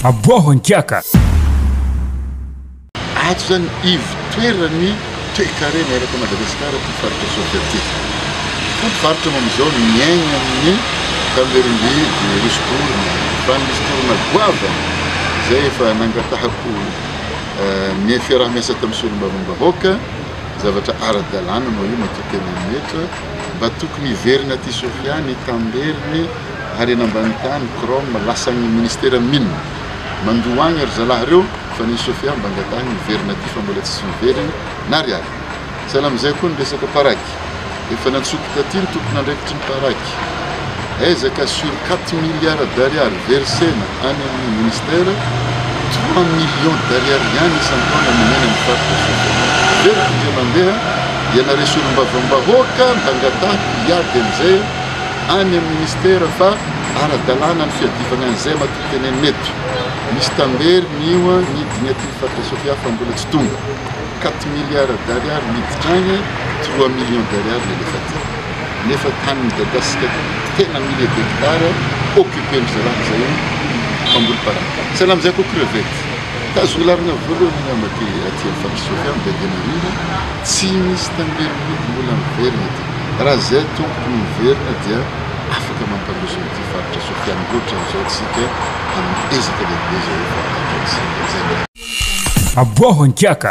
Aboaho an-kiaka! Ato izany ivotoeran'ny toekarena erak'i Madagasikara ity faritra Soavià ity. Koa mpivarotra moa amin'izao no miaigna amin'ny tamberim-by virus corona, fa misy vorona goavana izay efa nangatahako ny fiaraha-miasa tamin'ny solombavambahoaka, zavatra ara-dalàna moa io matoa tena mihetra, mba tokony hiverina aty Sofia ny tamberiny. ary eny ambany tany chrome lasan'ny ministera mine mandoa agny ry zalahy reo fa ny sofia mba angatahigny hiverina aty fa mbola tsisy miverigny na ry ato sahala amizay koa ny resaka paraky efa nantsoiko taty ny tompon'andraikitry ny paraky aiza ka sur 4 milliards d'ariary versena any amin'ny ministera 3 millions d'ariary ihany isan-taona nomena ny faritra sofia very findre mandeha ianare solombavambahoaka mba angatahy hiady amizay any amin'ny minisitera fa ara-dalàna ny fiadivana an'izay matoa tena mety. Misy tambery mioa ny dimy aty ny faritra Sofia fa mbola tsy tonga. Quatre milliards d'ariary miditra agny, trois millions d'ariary ny alefa aty. Nefa tany midadasika tena milliers d'hectares occupen'ny zalahy zay io mpamboly parang. Sahala amin'izay koa crevette. Tazogny laligna voalohany angamba aty aty amin'ny faritra Sofia, Bedianarivo, tsy misy tambery miody mbola miverigny aty. Raha izay tompoko no miverina dia afaka mampandroso an'ity faritra Sofia any loatra amin'izao isika amin'ny ezaka lehibe izay efa ataontsika. Aboaho an-kiaka!